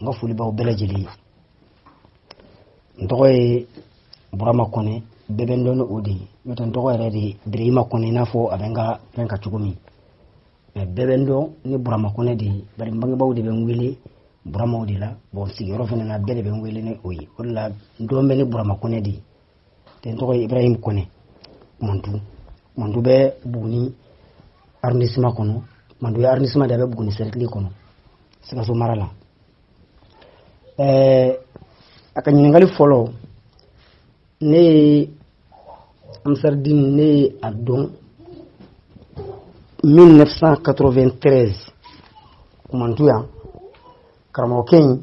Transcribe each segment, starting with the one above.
n ka foli b'aw bɛɛ lajɛlen ye n tɔgɔ ye burama kɔnɛ bɛɛ bɛ n dɔn ni o de ye n'o tɛ n tɔgɔ yɛrɛ de ye birahima kɔnɛ i n'a fɔ a bɛ n ka fɛn kan cogo min mais bɛɛ bɛ n dɔn ni burama kɔnɛ de ye bari n bangebaaw de bɛ n wele burama o de la bon sigiyɔrɔ fana na bɛɛ de bɛ n wele ni o ye o de la n dɔn bɛ ni burama kɔnɛ de ye tɛ n tɔgɔ ye ibrahim kɔnɛ kumantu kumantu bɛ buguni arrondissement kɔnɔ kumantu ye arrondissement de a bɛ buguni cercle kɔnɔ sikaso mara la ɛɛ a ka ɲininkali fɔlɔ ne ye ansaridini ne ye a dɔn 1993 kumantu yan karamɔgɔkɛ in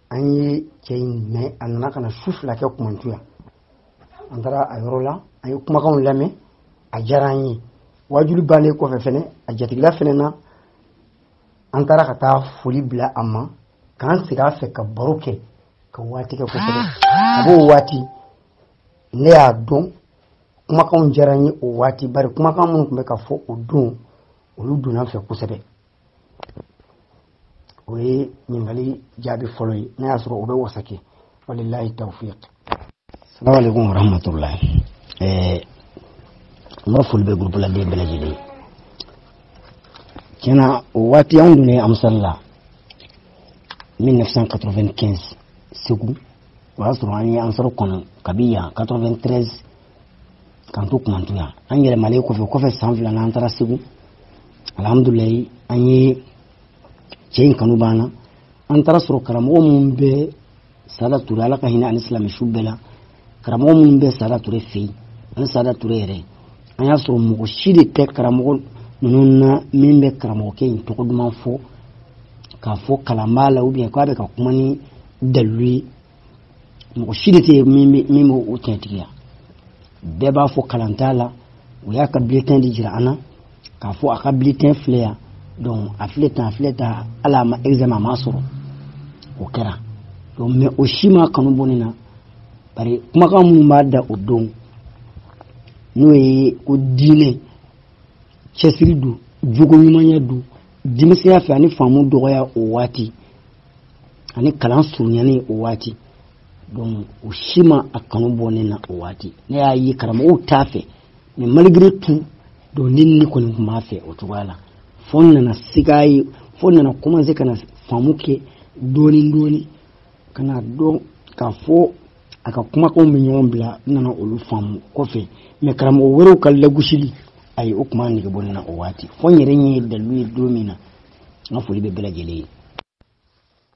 an ye cɛ in mɛn a nana ka na su fila kɛ kumantu yan an taara a yɔrɔ la an ye kumakanw lamɛn a diyara an ye wajuli bannen kɔfɛ fɛnɛ a jatigila fɛnɛ na an taara ka taa foli bila a ma k'an sigi a fɛ ka baro kɛ ka waati kɛ kosɛbɛ a b'o waati ne y'a dɔn kumakanw diyara n ye o waati bari kumakan minnu tun bɛ ka fɔ o don olu donna n fɛ kosɛbɛ o ye ɲininkali jaabi fɔlɔ ye n'a y'a sɔrɔ o bɛ wasa kɛ walilayi tawfiq asalamu aleykum warahmatulahi ɛɛ n ka foli bɛ gurupuladen bɛɛ lajɛlen tiɲɛ na o waati anw dun ye a misali la 1995 segu o y'a sɔrɔ an ye ansaru kɔnɔ kabi yan 93 k'an to kumantu yan an yɛlɛmalen kɔfɛ kɔfɛ san fila na an taara segu alhamdulilayi an ye cɛ in kanu b'an na an taara a sɔrɔ karamɔgɔ minnu bɛ sada ture ala ka hinɛ a ni silamɛ su bɛɛ la karamɔgɔ minnu bɛ sada ture fɛ yen ani sada ture yɛrɛ an y'a sɔrɔ mɔgɔ si de tɛ karamɔgɔ ninnu na min bɛ karamɔgɔkɛ in tɔgɔ duman fɔ k'a fɔ kalan b'a la ou bien k'a bɛ ka kuma ni dalilu ye mɔgɔ si de tɛ yen min bɛ o tiɲɛtigiya bɛɛ b'a fɔ kalan t'a la u y'a ka bulletin de jira an na k'a fɔ a ka bulletin filɛ yan donc a filɛ tan a filɛ tan hali a ma examen a ma sɔrɔ o kɛra donc mais o si m'a kanu bɔ ne na bari kumakan minnu b'a da o don n'o ye ko diinɛ cɛsiri don jogo ɲumanya don denmisɛnya fɛ ani faamu dɔgɔya o waati ani kalan surunyanen o waati donc o si ma a kanu bɔ ne na o waati ne y'a ye karamɔgɔw t'a fɛ mais malgré tout donc ne ni kɔni tun b'a fɛ o cogoya la fo n nana siga ye fo n nana commencer ka na faamu kɛ dɔɔni dɔɔni ka na dɔn k'a fɔ a ka kumakanw bɛ ɲɔgɔn bila n nana olu faamu kɔfɛ mais karamɔgɔ wɛrɛw ka lagosili ayi o tun m'a nege bɔ ne na o waati fo n yɛrɛ ɲɛ ye dalilu ye don min na n ka foli bɛ bɛɛ lajɛlen ye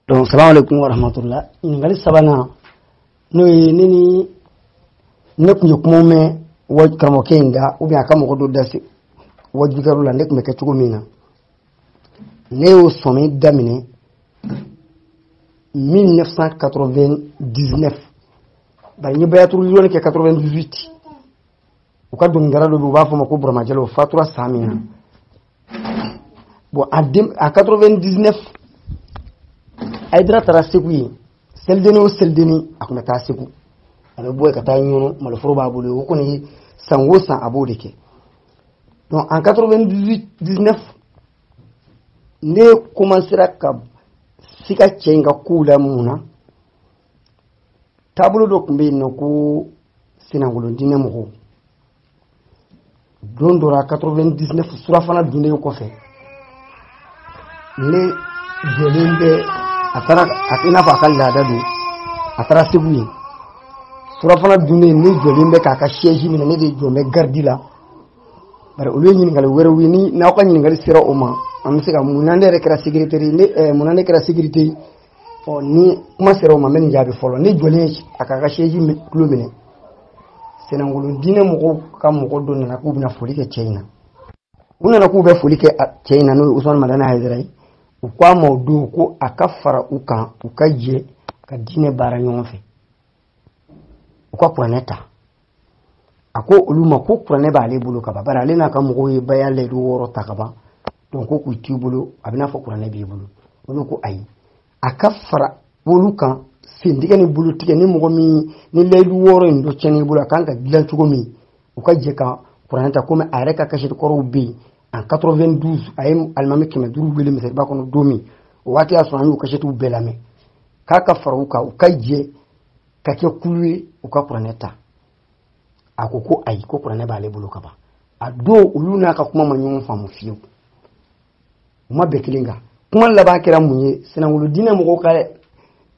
donc salamu alaikum wa rahmatullah ɲininkali sabanan n'o ye ne ni ne tun ye kuma mɛn wa karamɔgɔkɛ in da ubiyɛn a ka mɔgɔ dɔ da se waajukɛyɔrɔ la ne tun bɛ kɛ cogo min na ne y'o sɔmi daminɛ 1999 bari n ye bayatu riliwani kɛ 98 u ka dɔnkilidala dɔ bɛ u b'a fɔ ma ko burama jalo o fatura san min na bon a den en 99 ayidara taara segu yen selideni o selideni a tun bɛ taa segu a bɛ bɔ yen ka taa ɲɔnɔ maloforo b'a bolo o kɔni ye san o san a b'o de kɛ donc en 99 ne commencera ka sika cɛ in ka kow la mun na taabolo dɔ tun bɛ yen n'u ko sennakolon diinɛ mɔgɔw don dɔ la 99 surafana dunnen kɔfɛ ne jɔlen bɛ a taara i n'a fɔ a ka laada don a taara segu yen surafana dunnen ne jɔlen bɛ k'a ka sɛji minɛ ne de jɔn bɛ garidi la bari olu ye ɲininkali wɛrɛw ye ni n'aw ka ɲininkali sera o ma an bɛ se ka mun na ne yɛrɛ kɛra sekirite ne mun na ne kɛra sekirite ɔ ni kuma sera o ma n bɛ nin jaabi fɔlɔ ne jɔlen a k'a ka sɛji tulo minɛ sennakolon diinɛ mɔgɔw ka mɔgɔ dɔ nana k'u bɛna foli kɛ cɛ in na u nana k'u bɛ foli kɛ cɛ in na n'o ye usumani madani hayidara ye u ko a ma o don ko a ka fara u kan u ka jɛ ka diinɛ baara ɲɔgɔn fɛ u ka kuranɛ ta a ko olu ma ko kuranɛ b'ale bolo ka ban bari ale n'a ka mɔgɔw ye baya layidu wɔɔrɔ ta ka ban donc ko k'u t'i bolo a bɛn'a fɔ kuranɛ b'i bolo olu ko ayi a ka fara olu kan sentigɛ ni bolotigɛ ni mɔgɔ min ni layidu wɔɔrɔ in dɔ tiɲɛn'i bolo a kan ka dilan cogo min u ka jɛ ka kuranɛ ta komi a yɛrɛ ka kasɛti kɔrɔw bɛ yen en 92 a ye alimami kɛmɛ duuru wele misiriba kɔnɔ don min o waati y'a sɔrɔ an y'u kasɛtiw bɛɛ lamɛn k'a ka fara u kan u ka jɛ ka kɛ kulu ye u ka kuranɛ ta a ko ko ayi ko kuranɛ b'ale bolo ka ban a don olu n'a ka kuma ma ɲɔgɔn faamu fiyewu u ma bɛn kelen kan kuma laban kɛra mun ye sennakolon diinɛ mɔgɔw ka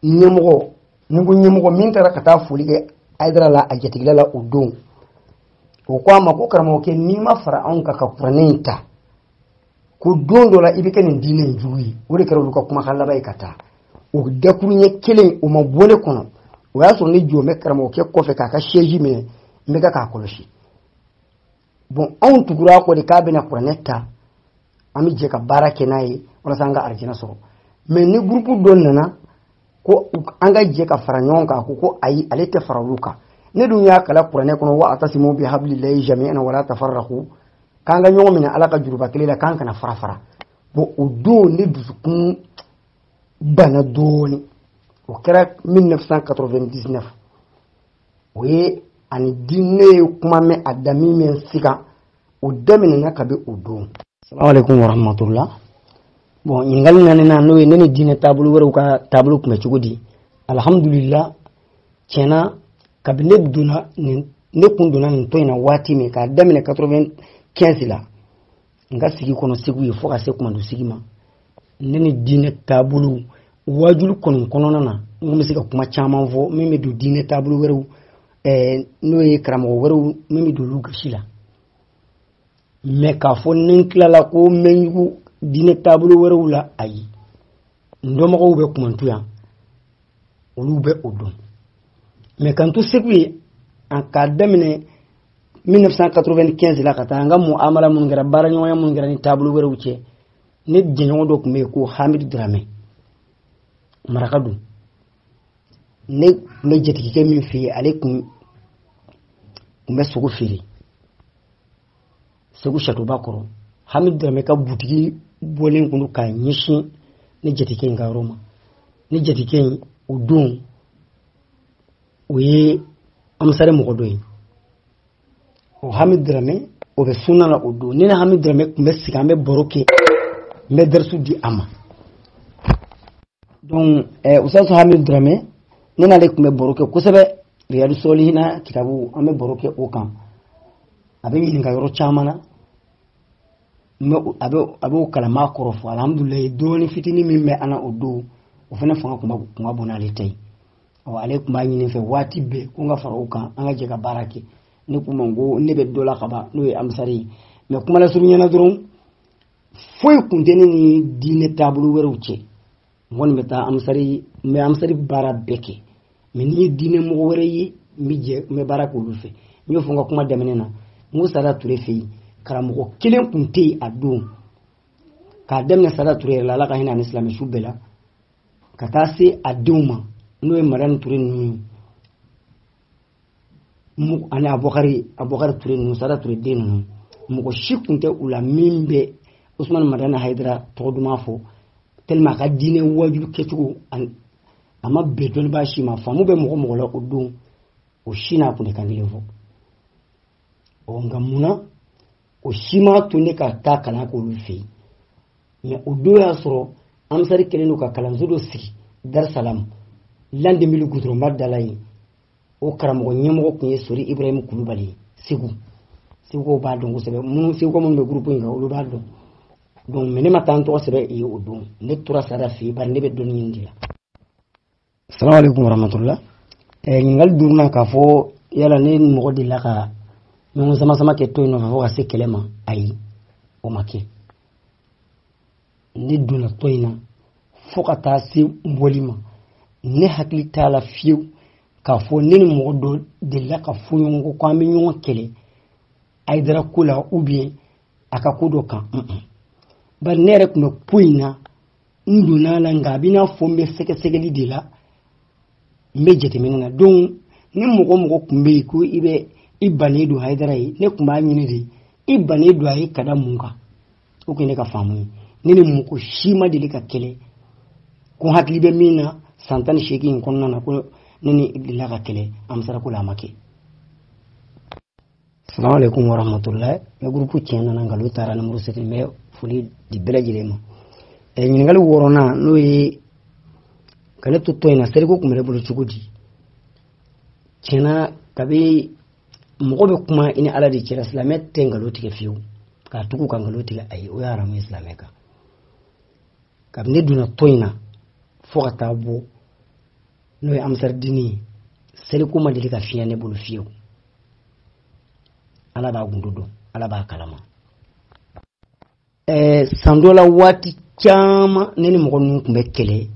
ɲɛmɔgɔ ni ko ɲɛmɔgɔ min taara ka taa foli kɛ ayidara la a jatigila la o don o ko a ma ko karamɔgɔkɛ n'i ma fara anw kan ka kuranɛ in ta ko don dɔ la i bɛ kɛ nin diinɛ in jugu ye o de kɛra olu ka kumakan laban ye ka taa o dakuruɲɛ kelen o ma bɔ ne kɔnɔ o y'a sɔrɔ ne jɔ bɛ karamɔgɔkɛ kɔfɛ k'a ka sɛji minɛ n bɛ ka k'a kɔlɔsi bon anw tugura a kɔ de k'a bɛna kuranɛ ta an bɛ jɛ ka baara kɛ n'a ye walasa an ka arijina sɔrɔ mɛ ni gurupu dɔ nana ko an ka jɛ ka fara ɲɔgɔn kan ko ko ayi ale tɛ fara olu kan ne dun y'a kalan kuranɛ kɔnɔ wa atasimu bi hablillahi jami'an wala tafarraku k'an ka ɲɔgɔn minɛ ala ka juruba kelen la k'an kana fara fara bon o don ne dusukun bana dɔɔni o kɛra 1999 o ye ani di ne ye kuma mɛn a dami mɛn siga o daminɛna kabi o don salamualeykum warahmatula bon ɲininkali naani na n'o ye ne ni diinɛ taabolo wɛrɛw ka taabolo kun bɛ cogo di alhamdulila tiɲɛ na kabi ne donna nin ne kun donna nin tɔn in na waati min k'a daminɛ 95 la n ka sigi kɔnɔ segu yen fo ka se kumantu sigi ma ne ni diinɛ taabolow waajuli kɔni kɔnɔna na n bɛ se ka kuma caman fɔ min bɛ don diinɛ taabolo wɛrɛw n'o ye karamɔgɔ wɛrɛw min bɛ don olu gasi la mɛ k'a fɔ ni n tilala ko n bɛ ɲugu diinɛ taabolo wɛrɛw la ayi n dɔnbagaw bɛ kumantu yan olu bɛ o dɔn mɛ k'an to segu yen a k'a daminɛ 1995 la ka taa an ka muamala minnu kɛra baaraɲɔgɔnya minnu kɛra ni taabolo wɛrɛw cɛ ne jɛɲɔgɔn dɔ tun bɛ yen ko hamid dramɛ maraka don ne tun bɛ jatigikɛ min fɛ yen ale tun bɛ sogo feere segu satoba kɔrɔ hami dramɛ ka butigi bɔlen kun ka ɲɛsin ne jatigikɛ in ka yɔrɔ ma ne jatigikɛ in o don o ye amisare mɔgɔ dɔ ye o hami dramɛ o bɛ sunna la o don ne ni hami dramɛ tun bɛ sigi an bɛ baro kɛ n bɛ darisu di a ma donc eh, ustazi hami dramɛ ne n'ale tun bɛ baro kɛ kosɛbɛ riyadu solihina kitabu an bɛ baro kɛ o kan a bɛ n ɲininka yɔrɔ caman na mɛ a bɛ a b'o kalama kɔrɔ fɔ alihamudulilayi dɔɔni fitinin min bɛ an na o don o fana fanga kun ka bon n'ale ta ye ɔ ale tun b'a ɲini n fɛ waati bɛɛ ko n ka fara u kan an ka jɛ ka baara kɛ ne k'u ma n ko ne bɛ dɔ la ka ban n'o ye amisari ye mɛ kuma lasurunya na dɔrɔn foyi kun tɛ ne ni diinɛ taabolo wɛrɛw cɛ n kɔni bɛ taa amisari n bɛ amisari baara bɛɛ kɛ mɛ ni n ye diinɛ mɔgɔ wɛrɛ ye n bɛ jɛ n bɛ baara k'olu fɛ n y'o fɔ n ka kuma daminɛ na n ko sada ture fɛ yen karamɔgɔ kelen kun tɛ yen a don k'a daminɛ sada ture yɛrɛ la ala ka hinɛ a ni silamɛsu bɛɛ la ka taa se a denw ma n'o ye madani ture ninnu ye ani abubakari abubakari ture ninnu sada ture den ninnu mɔgɔ si kun tɛ u la min bɛ usumani madani hayidara tɔgɔ duman fɔ tellement a ka diinɛ waajuli kɛcogo ani a ma bɛn dɔnnibaa si ma faamu bɛ mɔgɔ mɔgɔ la o don o si n'a kun tɛ kan kelen fɔ ɔ nka mun na o si m'a to ne ka taa kalan k'olu fɛ yen mɛ o don y'a sɔrɔ ansari kɛlen don ka kalanso dɔ sigi darisalamu landemili gudɔrɔnba dala yen o karamɔgɔ ɲɛmɔgɔ tun ye sori ibrahim kulubali ye segu segukaw b'a dɔn kosɛbɛ minnu segukaw minnu bɛ gurupu in kan olu b'a dɔn donc mɛ ne ma taa n tɔgɔ sɛbɛn yen o don ne tora sara fɛ yen bari ne bɛ dɔnni ɲini de la salamu alaikum warahmatullah eh, ɲininkali duurunan k'a fɔ yala ne ni mɔgɔ delila ka ɲɔgɔn samasama kɛ tɔn in nɔfɛ fo ka se kɛlɛ ma ayi o ma kɛ ne donna tɔn in na fo ka taa se n bɔli ma ne hakili t'a la fiyewu k'a fɔ ne ni mɔgɔ dɔ delila ka fɔ ɲɔgɔn kɔ ko an bɛ ɲɔgɔn kɛlɛ hayidara ko la ou bien a ka ko dɔ kan bari ne yɛrɛ tun bɛ ko in na n donna a la nka a bɛ i n'a fɔ n bɛ sɛgɛsɛgɛli de la n bɛ jateminɛ na donc ni mɔgɔ mɔgɔ tun bɛ yen ko i bɛ i bannen don hayidara ye ne tun b'a ɲini de i bannen don a ye ka da mun kan o tun ye ne ka faamu ye ne ni mɔgɔ si ma deli ka kɛlɛ ko hakili bɛ min na san tan ni seegin in kɔnɔna na ko ne n'i delila ka kɛlɛ ansari ko la a ma kɛ salamu alaikum warahmatullahi ne gurupu tiɲɛ nana nkalon taara numéro sept n bɛ foli di bɛɛ lajɛlen ma ɛ ɲininkali wɔɔrɔnan n'o ye ka ne to tɔn in na seliko tun bɛ ne bolo cogo di tiɲɛna kabi mɔgɔ bɛ kuma i ni ala de cɛla silamɛ tɛ nkalon tigɛ fiyewu k'a tugu ka nkalon tigɛ ayi o ye haramu ye silamɛ kan kabini ne donna tɔn in na fo ka taa bɔ n'o ye ansaridini ye seliko ma deli ka fiɲɛ ne bolo fiyewu ala b'a gundo dɔn ala b'a kalama ɛɛ san dɔ la waati caman ne ni mɔgɔ ninnu tun bɛ kɛlɛ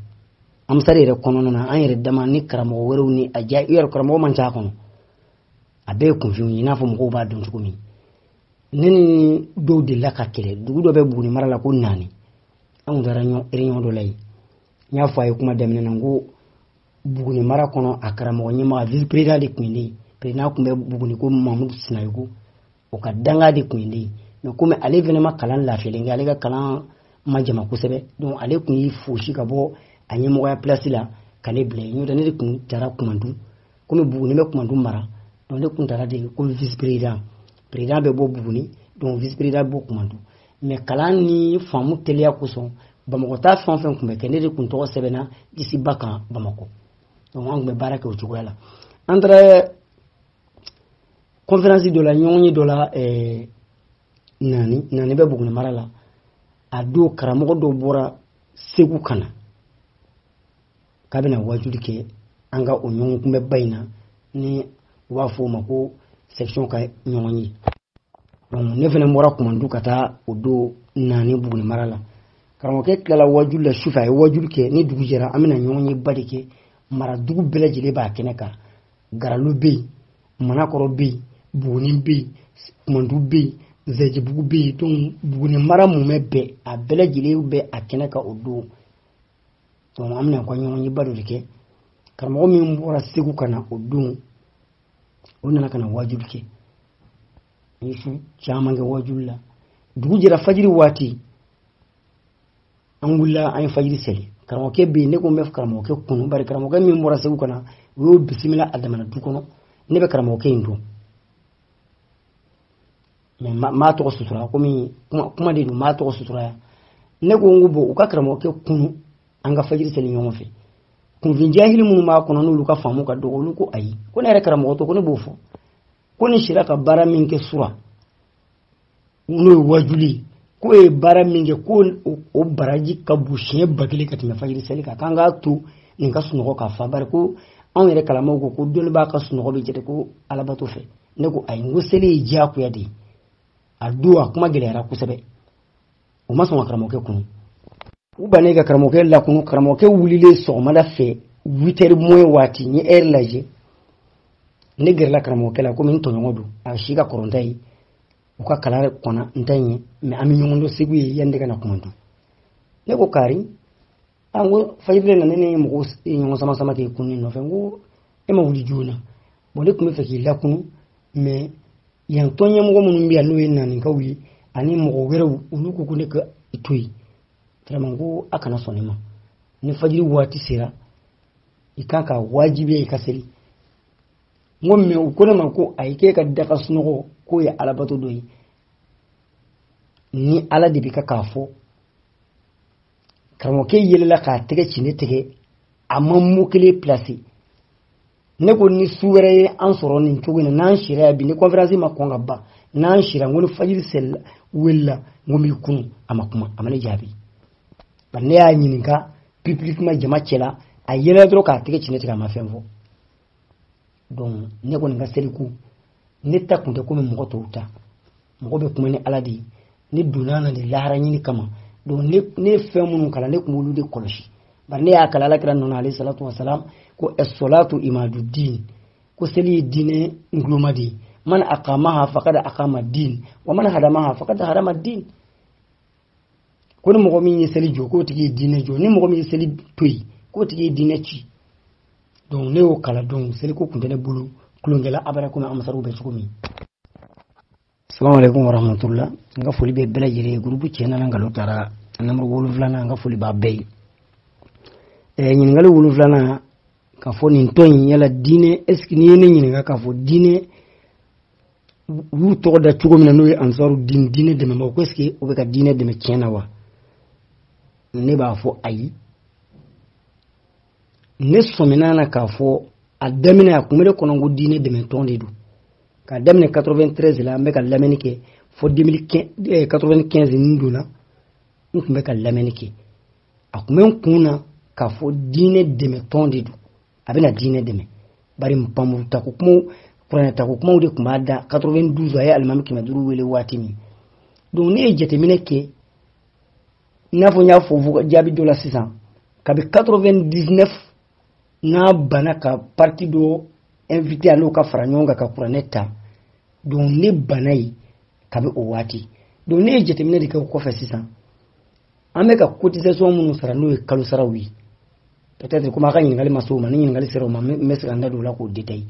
ansari yɛrɛ kɔnɔna na an yɛrɛ dama ni karamɔgɔ wɛrɛw ni a ja yɛrɛ karamɔgɔ man ca a kɔnɔ a bɛɛ ye kunfinw ye i n'a fɔ mɔgɔw b'a dɔn cogo min ne ni dɔw delila ka kɛlɛ dugu dɔ bɛ buguni mara la ko naani an tun taara réunion dɔ la yen n y'a fɔ a ye kuma daminɛ na n ko buguni mara kɔnɔ a karamɔgɔ ɲɛmaga vice président de tun ye ne ye président tun bɛ buguni ko mamudu sinayɔgɔ o ka dankan de tun ye ne ye mɛ komi ale fana ma kalan lafiyalen kɛ ale ka kalan ma janya kosɛbɛ donc ale tun y'i fosi ka bɔ a ɲɛmɔgɔya place la ka ne bila yen n'o tɛ ne de tun taara kumantu komi buguni bɛ kumantu mara donc ne tun taara de ko vice président président bɛ bɔ buguni donc vice président bɛ bɔ kumantu mɛ kalan ni faamu teliya kosɔn bamakɔ ta fɛn o fɛn tun bɛ kɛ ne de tun tɔgɔ sɛbɛnna lisiba kan bamakɔ donc an tun bɛ baara kɛ o cogoya la an taara kɔnferansi dɔ la ɲɔgɔnye dɔ la eh, naani naani bɛ buguni mara la a don karamɔgɔ dɔ bɔra segu ka na k'a bɛna wajuli kɛ an ka o ɲɔgɔnkunbɛnba in na ni u b'a fɔ o ma ko section ka ɲɔgɔnye donc ne fana bɔra kumandu ka taa o don naani buguni mara la karamɔgɔkɛ tilala wajuli la sufɛ a ye wajuli kɛ ni dugu jɛra an bɛna ɲɔgɔnyeba de kɛ mara dugu bɛɛ lajɛlen b'a kɛnɛ kan garalu bɛ yen manakɔrɔ bɛ yen buguni bɛ yen kumandu bɛ yen zɛjibugu bɛ yen donc buguni mara mumɛ bɛɛ a bɛɛ lajɛlen bɛ a kɛnɛ kan o don donc an bɛna ka ɲɔgɔnyeba dɔ de kɛ karamɔgɔ min bɔra segu ka na o don o nana ka na wajuli kɛ an ye su caman kɛ wajuli la dugu jɛra fajiri waati an wulila an ye fajiri seli karamɔgɔkɛ bɛ yen ne ko n bɛ karamɔgɔkɛ kunu bari karamɔgɔkɛ min bɔra segu ka na o y'o bisimila a damana du kɔnɔ ne bɛ karamɔgɔkɛ in dɔn mais maa tɔgɔ sutura komi kuma de don maa tɔgɔ sutura yan ne ko n ko bon u ka karamɔgɔkɛ kunu an ka fajiri seli ɲɔgɔn fɛ kunfin jahili minnu b'a kɔnɔ n'olu ka faamu ka dɔgɔ olu ko ayi ko ne yɛrɛ karamɔgɔ don ko ne b'o fɔ ko nin sira ka baara min kɛ sura n'o ye wajuli k'o ye baara min kɛ ko o baraji ka bon siɲɛ ba kelen ka tɛmɛ fajiri seli kan k'an k'a to nin ka sunɔgɔ ka fa bari ko anw yɛrɛ kalama ko ko dɔnnibaa ka sunɔgɔ bɛ jate ko alabato fɛn ne ko ayi n ko seli ye diyagoya de ye a don a kuma gɛlɛyara kosɛbɛ u ma sɔn ka karamɔgɔkɛ kunu u bannen ka karamɔgɔkɛ lakunu karamɔgɔkɛ wulilen sɔgɔmada fɛ huit heures moins waati n ye heure lajɛ ne gɛrɛla karamɔgɔkɛ la komi n tɔɲɔgɔn don a si ka kɔrɔ n ta ye u ka kalan kɔnna n ta ɲɛ mais an bɛ ɲɔgɔn dɔn segu yen yanni ne ka na kumandu ne ko kari an ko fajiri nana ne ni mɔgɔw ɲɔgɔn sama sama k'i kununi nɔfɛ n ko e ma wuli joona bon ne tun bɛ fɛ k'i lakunu mais yan tɔn ɲɛmɔgɔ minnu bɛ yan n'o ye naanikaw ye ani mɔgɔ wɛrɛw olu ko ko ne ka i to yen vraiment ko a kana sɔn ne ma ni fajiri waati sera i kan ka wajibiya i ka seli n ko mais u ko ne ma ko ayi k'e ka daga sunɔgɔ k'o ye alabato dɔ ye ni ala de bɛ ka k'a fɔ karamɔgɔkɛ yɛlɛla k'a tɛgɛ ci ne tɛgɛ a ma mot kelen placer ne ko ni su wɛrɛ ye an sɔrɔ nin cogo in na n'an sira yan bi ni conférence ma kɔn ka ban n'an sira n ko ni fajiri seli welela n ko n b'i kunu a ma kuma a ma ne jaabi bari ne y'a ɲininka publiquement jama cɛla a yɛlɛla dɔrɔn k'a tɛgɛ ci ne tɛgɛ a ma fɛn fɔ donc ne kɔni ka seliko ne ta kun tɛ komi mɔgɔ tɔw ta mɔgɔ bɛ kuma ni ala de ye ne donna na de lahara ɲini kama donc ne ye fɛn minnu kalan ne tun b'olu de kɔlɔsi bari ne y'a kalan ala kira nɔ na alayhi salatu wasalam ko ɛsolatu imadu din ko seli ye diinɛ nguloma de ye man akamaha fakada akama din wa man hadamaha fakada hadama din ko ni mɔgɔ min ye seli jɔ k'o tigi ye diinɛ jɔ ni mɔgɔ min ye seli to yen k'o tigi ye diinɛ ci donc ne y'o kalan donc seliko kun tɛ ne bolo tulonkɛ la abada komi amasariw bɛ cogo min salamu alaikum warahmatullah n ka foli bɛ bɛɛ lajɛlen ye gurupu tiɲɛ nana nkalon taara nimɔrɔ wolonfilanan n ka foli b'a bɛɛ ye eh, ɲininkali wolonfilanan k'a fɔ nin tɔn in yala diinɛ est ce que n'i ye ne ɲininka k'a fɔ diinɛ u y'u tɔgɔ da cogo min na n'o ye ansaru diinɛ dɛmɛbagaw ko ɛseke u bɛ ka diinɛ dɛmɛ tiɲɛ na wa ne b'a fɔ ayi ne sɔmina na k'a fɔ a daminɛ a kun bɛ ne kɔnɔ ko diinɛ dɛmɛtɔn de don k'a daminɛ 93 la an bɛ ka lamɛnni kɛ fo 95 n donna n kun bɛ ka lamɛnni kɛ a kun bɛ n kun na k'a fɔ diinɛ dɛmɛtɔn de don a bɛna diinɛ dɛmɛ bari npanmuru tako kumaw kuranɛ tako kumaw de tun b'a da 92 a ye alimami kɛmɛ duuru wele waati min donc ne ye jateminɛ kɛ i n'a fɔ n y'a fɔ jaabi dɔ la sisan kabi 99 n'a banna ka parti dɔ invité a n'o ka fara ɲɔgɔn kan ka kuranɛ ta donc ne banna ye kabi o waati donc ne ye jateminɛ de kɛ o kɔfɛ sisan an bɛ ka cotisation minnu sara n'o ye kalo saraw ye peut-être komi a ka ɲininkali ma se o ma ni ɲininkali sera o ma n bɛ se ka n da don o la k'o détailler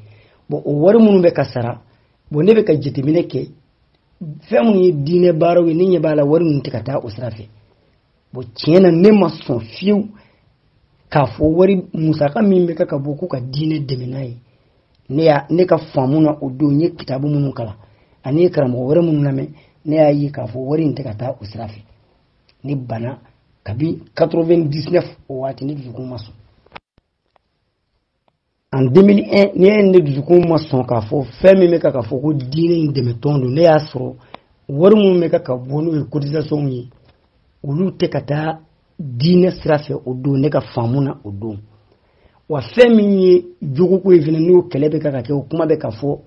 bon o wari minnu bɛ ka sara bon ne bɛ ka jateminɛ kɛ fɛn minnu ye diinɛ baaraw ye ne ɲɛ b'a la wari ninnu tɛ ka taa o sira fɛ bon tiɲɛ na ne ma sɔn fiyewu k'a fɔ wari musaka min bɛ kɛ ka bɔ ko ka diinɛ dɛmɛ n'a ye ne y'a ne ka faamu na o don n ye kitabu minnu kalan ani karamɔgɔ wɛrɛ minnu lamɛn ne y'a ye k'a fɔ wari in tɛ ka taa o sira fɛ ne banna kabi 99 o waati ne dusukun ma sɔn en 2001 ne ye ne dusukun ma sɔn k'a fɔ fɛn min bɛ ka ka fɔ ko diinɛ in dɛmɛtɔn don ne y'a sɔrɔ wari minnu bɛ ka ka bɔ n'o ye cotisation ye olu tɛ ka taa diinɛ sira fɛ o don ne ka faamu na o don wa fɛn min ye jogo ko ye fana n'o kɛlɛ bɛ ka ka kɛ o kuma bɛ ka fɔ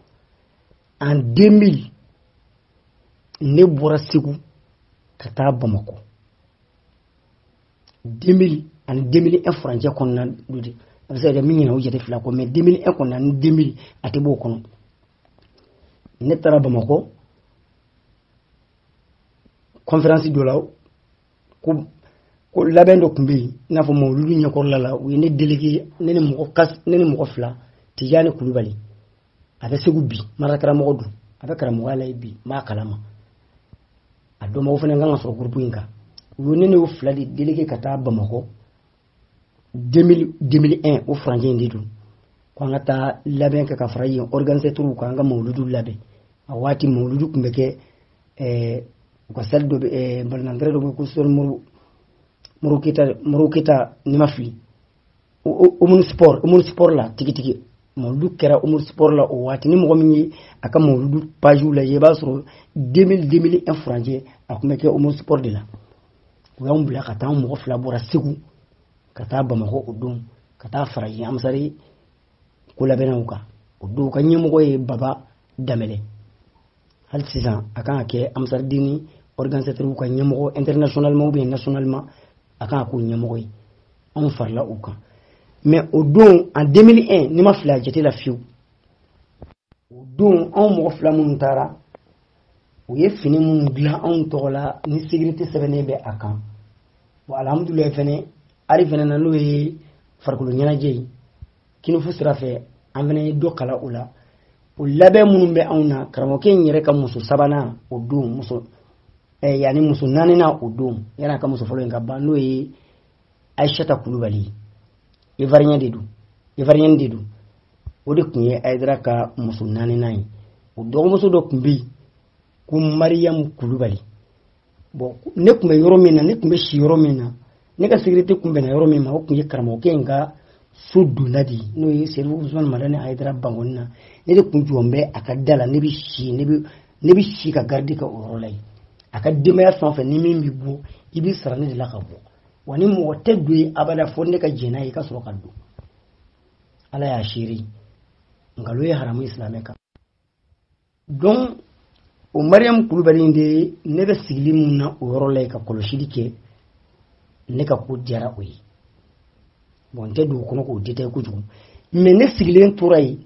en 2000 ne bɔra segu ka taa bamakɔ 2000 ani 2001 furancɛ kɔnɔna don dɛ a bɛ se ka kɛ n bɛ ɲinɛ o jate fila kɔ mais 2001 kɔnɔna ni 2000 a tɛ bɔ o kɔnɔ ne taara bamakɔ kɔnferansi dɔ la ko ko labɛn dɔ tun bɛ yen i n'a fɔ mawuludu ɲɛkɔrɔla la u ye ne delege ne ni mɔgɔ kas ne ni mɔgɔ fila tijani kulubali a bɛ segu bi madarasa karamɔgɔ don a bɛ karamɔgɔya la bi n b'a kalama a dɔnbagaw fana kan ka sɔrɔ gurupu in kan u ye ne n'o fila de delege ka taa bamakɔ 2001 o furancɛ in de don ko an ka taa labɛn kɛ ka fara yen organisateurs kan an ka mawuludu labɛn a waati mawuludu tun bɛ kɛ eh, u ka salle dɔ bɛ eh, balɔntan tɛrɛn dɔ bɛ ko sori moro modibo keyita modibo keyita ni n ma fili omnisports omnisports la tigitigi mawuludu kɛra omnisports la o waati ni mɔgɔ min ye a ka mawuludu pajiw lajɛ i b'a sɔrɔ 2000 2001 furancɛ a tun bɛ kɛ omnisports de la u y'an bila ka taa mɔgɔ fila bɔra segu ka taa bamakɔ o don ka taa fara yen ansari ko labɛnnaw kan o don ka ɲɛmɔgɔ ye baba danbɛlɛ hali sisan a kan ka kɛ ansaridini organisateurs ka ɲɛmɔgɔ internationalement ou bien nationalement a kan ka k'o ɲɛmɔgɔ ye anw farila u kan mais o don en 2001 ne ma fili a jate la fiyewu o don anw mɔgɔ fila minnu taara u ye fini minnu dilan anw tɔgɔ la ni sécurité sɛbɛnnen bɛ a kan wa alihamudulilayi fɛnɛ art fɛnɛ na n'o ye farikolo ɲɛnajɛ ye kung-fu sira fɛ an fɛnɛ ye dɔ kala o la o labɛn minnu bɛ anw na karamɔgɔkɛ in yɛrɛ ka muso sabanan o don muso eh, yanni muso naaninan o don yanni a ka muso fɔlɔ in ka ban n'o ye ayisata kulubali ivoirienne de don ivoirienne de don o de tun ye ayidara ka muso naaninan ye o dɔgɔmuso dɔ tun bɛ yen ko mariyamu kulubali bon ne tun bɛ yɔrɔ min na ne tun bɛ si yɔrɔ min na ne ka sécurité tun bɛnna yɔrɔ min ma o tun ye karamɔgɔkɛ in ka so donna de n'o ye serifu usman madani ayidara bankɔni na ne de tun jɔlen bɛ a ka da la ne bɛ si ne bɛ ne bɛ si ka garde kɛ o yɔrɔ la yen a ka denbaya fɛn o fɛn ni min bɛ bɔ i bɛ sara ne de la ka bɔ wa ni mɔgɔ tɛ don yen abada fo ne ka jɛn n'a ye i ka sɔrɔ ka don ala y'a seere nkalon ye haramu ye silamɛ kan donc o mariyamu kulubali in de ne bɛ sigili min na o yɔrɔ la yen ka kɔlɔsili kɛ ne ka ko diyara o ye bon n tɛ don o kɔnɔ k'o détailler kojugu mais ne sigilen tora yen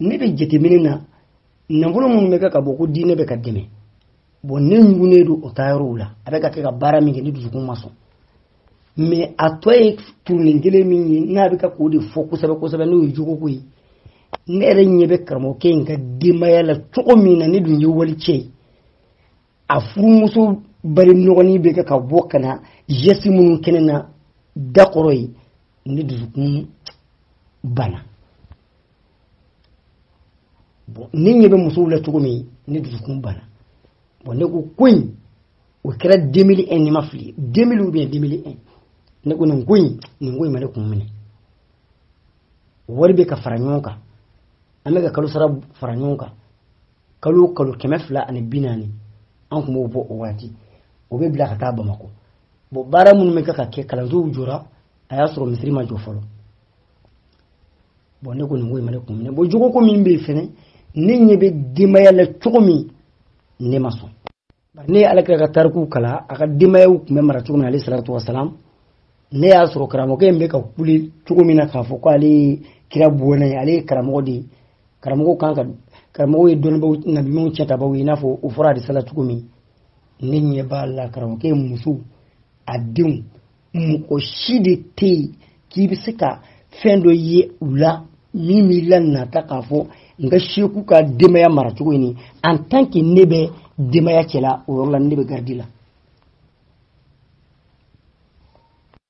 ne bɛ jateminɛ na nafolo minnu bɛ kɛ ka bɔ ko diinɛ bɛ ka dɛmɛ bon ne ɲugunnen don o taayɔrɔw la a bɛ ka kɛ ka baara min kɛ ne dusukun ma sɔn mais a tɔ ye turunin kelen min ye n'a bɛ ka k'o de fɔ kosɛbɛ kosɛbɛ n'o ye jogoko ye ne yɛrɛ ɲɛ bɛ karamɔgɔkɛ in ka denbaya la cogo min na ne dun ye walicɛ ye a furumuso bari nɔgɔnin bɛ kɛ ka bɔ ka na geste minnu kɛ ne na da kɔrɔ yen ne dusukun bana ne ɲɛ bɛ musow la cogo min ne dusukun bana bon ne ko ko in o kɛra 2001 ni ma fili 2000 ou bien 2001 ne ko nin ko in nin ko in ma ne kun minɛ wari bɛ ka fara ɲɔgɔn kan an bɛ ka kalo sara fara ɲɔgɔn kan kalo o kalo kɛmɛ fila ani bi naani an tun b'o bɔ o waati o bɛ bila ka taa bamakɔ bon baara minnu bɛ ka kɛ kalansow jɔra a y'a sɔrɔ misiri ma jɔ fɔlɔ bon ne ko nin ko in ma ne kun minɛ bon jogo ko min bɛ yen fɛnɛ ne ɲɛ bɛ denbaya la cogo min ne ma sɔn ne ye alakira ka tarikuw kalan a ka denbayaw tun bɛ mara cogo min na alayhi salatu wasalam ne y'a sɔrɔ karamɔgɔkɛ in bɛ ka kule cogo min na k'a fɔ ko ale ye kira bɔnna ye ale ye karamɔgɔ de ye karamɔgɔ kan ka karamɔgɔ ye dɔnnibaw nabiɲumanw cɛtabaw ye i n'a fɔ o fɔra hadisa la cogo min ne ɲɛ b'a la karamɔgɔkɛ muso a denw mɔgɔ si de tɛ yen k'i bɛ se ka fɛn dɔ ye u la min b'i la nata k'a fɔ n ka seku ka denbaya maracogo ɲini en tant que ne bɛ denbaya cɛla o yɔrɔ la ne bɛ garidi la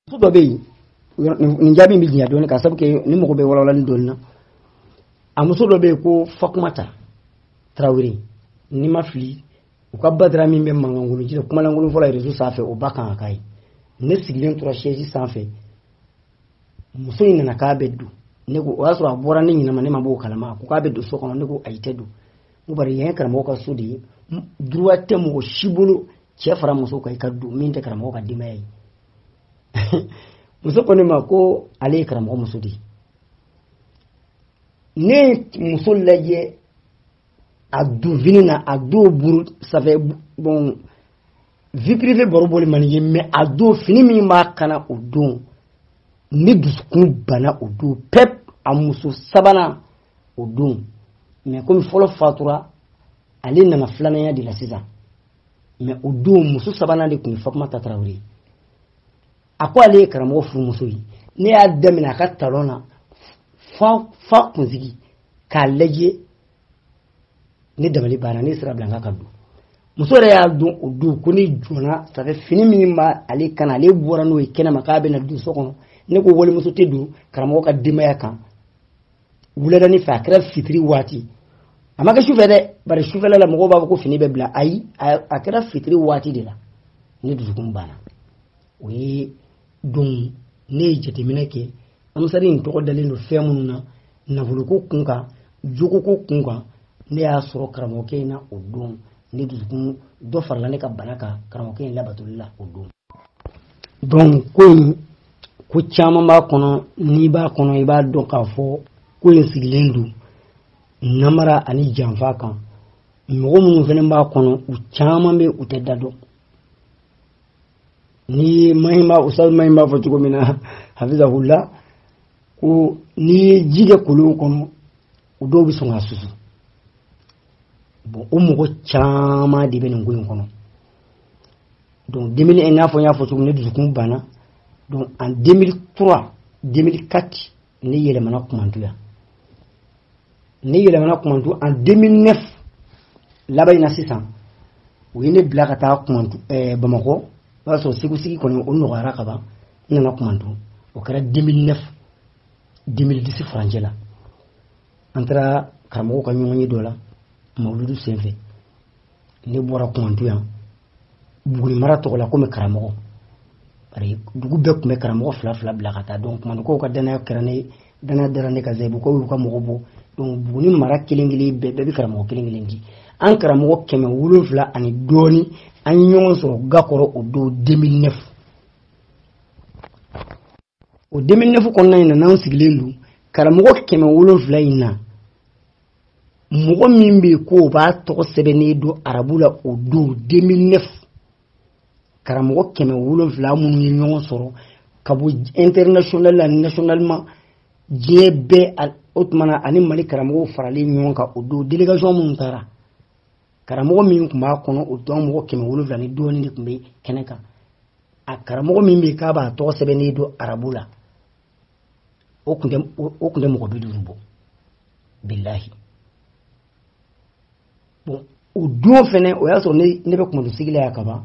muso dɔ bɛ yen nin jaabi bɛ janya dɔɔni k'a sabu kɛ ni mɔgɔ bɛ walawalani dɔɔni na a muso dɔ bɛ yen ko fatumata tarawele n'i ma fili u ka badara min bɛ mankankolon ci la kumalankolon fɔ la rezo sanfɛ o ba kan ka k'a ye ne sigilen tora sɛzi sanfɛ muso in nana k'a bɛ don ne ko o y'a sɔrɔ a bɔra ne ɲinama ne ma b'o kalama ko k'a bɛ don so kɔnɔ ne ko ayi tɛ don ko bari yan ye karamɔgɔ ka so de ye duruwa tɛ mɔgɔ si bolo cɛ fara muso kan i ka don min tɛ karamɔgɔ ka denbaya ye muso ko ne ma ko ale ye karamɔgɔ muso de ye ne ye muso lajɛ a don fini na a don buru ça fait bon vie privée baro bɔli man ɲi mais a don fini min b'a kan na o don ne dusukun banna o don pep a muso sabanan o don mais komi fɔlɔ fatura ale nana filananya de la sisan mais o don muso sabanan de tun ye fatumata tarawele a ko ale ye karamɔgɔ furumuso ye ne y'a daminɛ a ka talɔn na f'a kunsigi k'a lajɛ ne dabali banna ne sira bila a ka don muso yɛrɛ y'a dɔn o don ko ne jɔnna ça fait fini min b'ale kan ale bɔra n'o ye kɛnɛma k'a bɛna don so kɔnɔ ne ko walimuso tɛ don karamɔgɔ ka denbaya kan wuladanin fɛ a kɛra fitiri waati a ma kɛ sufɛ dɛ bari sufɛla la mɔgɔw b'a fɔ ko fini bɛ bila ayi a kɛra fitiri waati de la ne dusukun banna o ye don ne ye jateminɛ kɛ ansari in tɔgɔ dalen don fɛn minnu na nafoloko kun kan jogoko kun kan ne y'a sɔrɔ karamɔgɔkɛ in na o don ne dusukun dɔ farala ne ka bana kan karamɔgɔkɛ in labatoli la o don donc ko in ko caman b'a kɔnɔ n'i b'a kɔnɔ i b'a dɔn k'a fɔ ko in sigilen don namara ani janfa kan mɔgɔ minnu fana b'a kɔnɔ u caman bɛ u tɛ da dɔn ni mahi m'a ustaz mahi m'a fɔ cogo min na hafizahullah ko n'i ye ji kɛ kolon kɔnɔ u dɔw bɛ sɔn k'a susu bon o mɔgɔ caman de bɛ nin ko in kɔnɔ donc 2001 n'a fɔ n y'a fɔ cogo min ne dusukun banna donc en 2003 2004 ne yɛlɛmana kumantu yan ne yɛlɛmana kumantu en 2009 laban in na sisan u ye ne bila ka taa kumantu eh, bamakɔ o b'a sɔrɔ segu sigi kɔni o nɔgɔyara ka ban n nana kumantu o kɛra 2009 2010 furancɛ la an taara karamɔgɔ ka ɲɔgɔnye dɔ la mawuludu senfɛ ne bɔra kumantu yan buguni mara tɔgɔ la komi karamɔgɔ bari dugu bɛɛ tun bɛ karamɔgɔ fila fila bila ka taa donc kumantukaw ka danaya kɛra ne danaya dara ne kan zayibukaw y'u ka mɔgɔ bɔ donc buguni mara kelen kelen bɛɛ bɛɛ bɛ karamɔgɔ kelen kelen di an karamɔgɔ kɛmɛ wolonfila ani dɔɔni an ye ɲɔgɔn sɔrɔ ga kɔrɔ o don 2009 o 2009 kɔnɔna in na n'an sigilen don karamɔgɔ kɛmɛ wolonfila in na mɔgɔ min bɛ ko o b'a tɔgɔ sɛbɛnni dɔn arabu la o don 2009 karamɔgɔ kɛmɛ wolonfila minnu ye ɲɔgɔn sɔrɔ ka bɔ international ani nationalement diɲɛ bɛɛ o tuma na ani mali karamɔgɔw faralen ɲɔgɔn kan o don délégation minnu taara karamɔgɔ min tun b'a kɔnɔ o don mɔgɔ kɛmɛ wolonfila ni dɔɔni de tun bɛ kɛnɛ kan a karamɔgɔ min bɛ k'a b'a tɔgɔ sɛbɛnni dɔn arabu la o tun tɛ mɔgɔ bi duuru bɔ bilahi bon o don fɛnɛ o y'a sɔrɔ ne bɛ kumantu sigi la yan kaban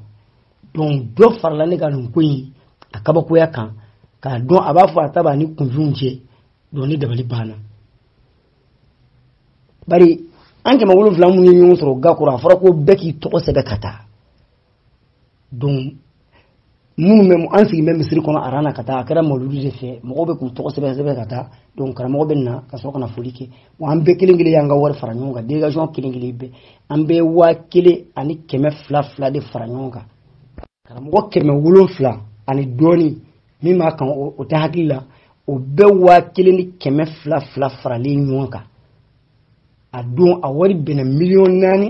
donc dɔ farala ne ka nin ko in a kabakoya kan k'a dɔn a b'a fɔ a ta b'a ni kunfinw cɛ donc ne dabali banna bari an kɛmɛ wolonfila minnu ye ɲɔgɔn sɔrɔ ga kɔrɔ a fɔra ko bɛɛ k'i tɔgɔ sɛbɛn ka taa donc minnu bɛ an sigi bɛ misiri kɔnɔ aran na ka taa a kɛra mawuludu de fɛ mɔgɔw bɛ k'u tɔgɔ sɛbɛn sɛbɛn ka taa donc karamɔgɔ bɛ na ka sɔrɔ ka na foli kɛ wa an bɛɛ kelen kelen y'an ka wari fara ɲɔgɔn kan délégation kelen kelen bɛɛ an bɛɛ waa kelen ani kɛmɛ fila fila de fara ɲɔgɔn kan karamɔgɔ kɛmɛ wolonfila ani dɔɔnin min b'a kan o tɛ hakili la o bɛɛ waa kelen ni kɛmɛ fila fila faralen ɲɔgɔn kan a don a wari bɛnna miliyɔn naani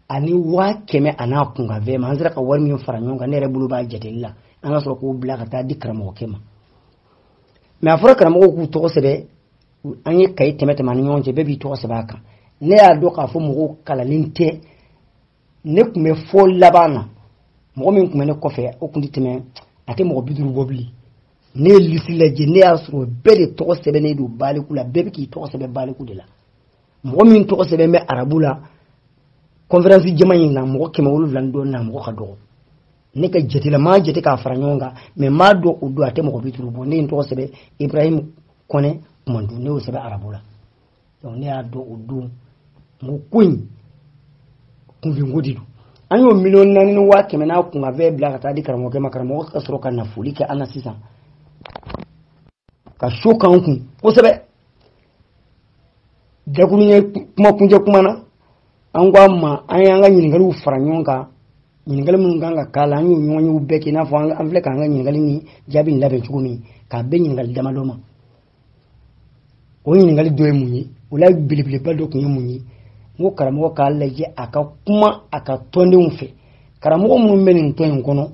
ani waa kɛmɛ a n'a kunkanfɛn ma an sera ka wari min fara ɲɔgɔn kan ne yɛrɛ bolo b'a jateli la an ka sɔrɔ k'o bila ka taa di karamɔgɔkɛ ma mɛ a fɔra karamɔgɔw k'u tɔgɔ sɛbɛn an ye kaye tɛmɛ tɛmɛ an ni ɲɔgɔn cɛ bɛɛ b'i tɔgɔ sɛbɛn a kan ne y'a dɔn k'a fɔ mɔgɔw kalanlen tɛ ne tun bɛ fo laban na mɔgɔ min tun bɛ ne kɔfɛ o tun tɛ tɛmɛ a tɛ mɔgɔ bi duuru bɔ bilen ne ye lisi lajɛ ne y'a sɔrɔ bɛɛ de tɔgɔ sɛbɛnnen don baliku la bɛɛ bɛ k'i tɔgɔ sɛbɛn baliku de la mɔgɔ min tɔgɔ sɛbɛn bɛ arabu la kɔnferansi jama in na mɔgɔ kɛmɛ wolonwula ni dɔɔnin na mɔgɔ ka dɔgɔ ne ka jate la n m'a jate k'a fara ɲɔgɔn kan mɛ n b'a dɔn o don a tɛ mɔgɔ bi duuru bɔ ne ye n tɔgɔ sɛbɛn ibrahim kɔnɛ kumantu ne y'o sɛbɛn arabu la donc ne y'a dɔn o don n ko ko in kunfinko de don an y'o miliyɔn naani ni waa kɛmɛ n'a kunkanfɛn bila ka taa di karamɔgɔkɛ ma karamɔgɔ ka sɔrɔ ka na foli kɛ an na sisan ka so k'an kun kosɛbɛ dakuru ye kuma kuncɛ kuma na an ko a ma an y'an ka ɲininkaliw fara ɲɔgɔn kan ɲininkali minnu kan ka k'a la an y'o ɲɔgɔnyew bɛɛ kɛ i n'a fɔ an filɛ k'an ka ɲininkali ni jaabi in labɛn cogo min k'a bɛn ɲininkali damadɔ ma o ɲininkali dɔ ye mun ye o la belebeleba dɔ tun ye mun ye n ko karamɔgɔ k'a lajɛ a ka kuma a ka tɔndenw fɛ karamɔgɔ minnu bɛ nin tɔn in kɔnɔ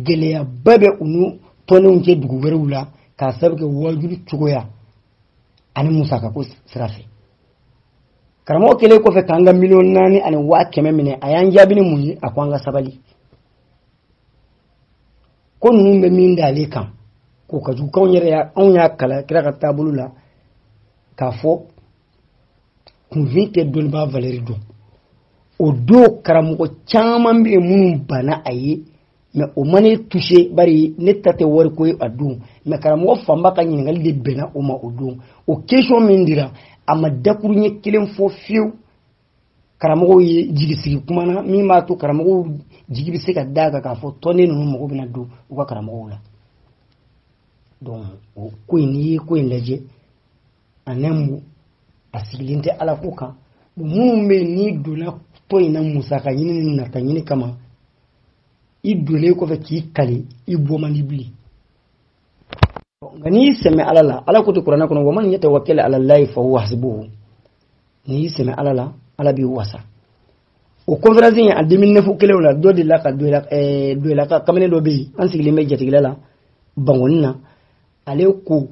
gɛlɛyaba bɛ u n'u tɔndenw cɛ dugu wɛrɛw la k'a sababu kɛ wajulu cogoya ani musakako sira fɛ karamɔgɔ kɛlen kɔfɛ k'an ka miliyɔn naani ani waa kɛmɛ minɛ a y'an jaabi ni mun ye a ko an ka sabali ko ninnu bɛ min da ale kan k'o ka jugu k'anw yɛrɛ anw y'a kalan kira ka taabolo la k'a fɔ kunfin tɛ dɔnnibaa valɛri dɔn o don karamɔgɔ caman bɛ yen minnu banna a ye mɛ o ma ne tuse bari ne ta tɛ wariko ye a don mɛ karamɔgɔ fanba ka ɲininkali de bɛnna o ma o don o kɛsiyɔn min dira a ma dakuruɲɛ kelen fɔ fiyewu karamɔgɔw ye jigisigi kuma na min b'a to karamɔgɔw jigi bɛ se ka d'a kan k'a fɔ tɔnden ninnu mago bɛna don u ka karamɔgɔw la donc o ko in n'i ye ko in lajɛ a ɲɛma a sigilen tɛ ala ko kan minnu bɛ n'i donna tɔn in na musaka ɲini ni nata ɲini kama i donnen kɔfɛ k'i kali i bɔ man di bilen nka n'i sɛmɛ ala la ala ko ten kuranɛ kɔnɔ wa man yatawakkal ala llahi fa huwa hasbuhu n'i sɛmɛ ala la ala b'i wasa o conférence in na 2009 kelen la dɔ delila ka doyilaka eh, kamalen dɔ bɛ yen an sigilen bɛ jatigila la bankoni na ale ko